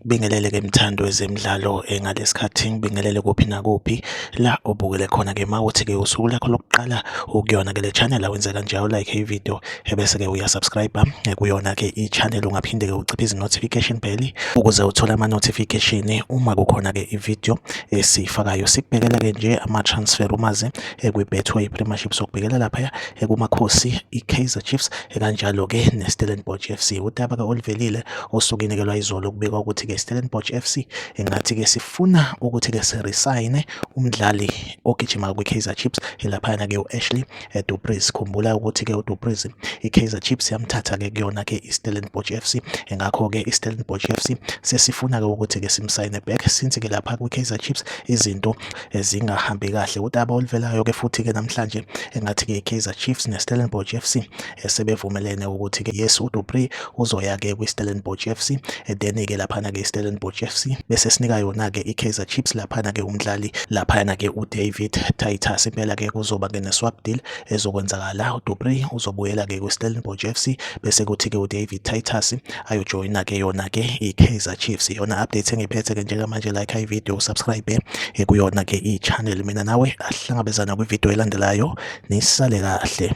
ngibingelele ke mthando wezemidlalo eh, ngalesikhathi ngibingelele kuphi nakuphi la obukele khona ke mawuthi ke usuku lakho lokuqala ukuyona ke le channel awenze kanjalo like i video ebese-ke uyasubscribe eh, kuyona-ke i-channel ungaphinde-ke uciphe izi-notification bell ukuze uthole ama-notification uma kukhona-ke i-video esiyifakayo sikubhekela-ke nje ama-transfer umaze eh, kwi-betway premiership sokubhekela laphaya eh, kumakhosi i-kaizer chiefs kanjalo-ke ne-stellenbosch f c udaba-ke oluvelile osukinekelwa izolo kubikwa ukuthi-ke i-stellenbosch f c engathi-ke sifuna ukuthi-ke sirisayine umdlali ogijima kwi-kaizer chiefs elaphayana-ke u-ashley eDu Preez. Khumbula ukuthi ke uDu Preez iKaizer Chiefs yamthatha ke kuyona ke iStellenbosch FC ngakho ke iStellenbosch FC sesifuna ke ukuthi ke simsayine back since ke lapha kwiKaizer Chiefs izinto ezingahambi kahle. Udaba oluvelayo ke futhi ke namhlanje engathi ke iKaizer Chiefs neStellenbosch FC esebevumelene ukuthi ke yes uDupree uzoya ke kwiStellenbosch FC then ke laphana ke iStellenbosch FC bese sinika yona ke iKaizer Chiefs laphana ke umdlali laphana ke uDavid Titus impela ke kuzoba ke neswap deal ezokwenzakala uDupree uzobuyela ke kwiStellenbosch FC bese kuthi ke uDavid Titus ayojoyina ke yona ke i-Kaizer Chiefs iyona update engiphethe ke njengamanje like i video subscribe eh, kuyona ke i-channel mina nawe ahlangabezana kwi-video elandelayo nisale kahle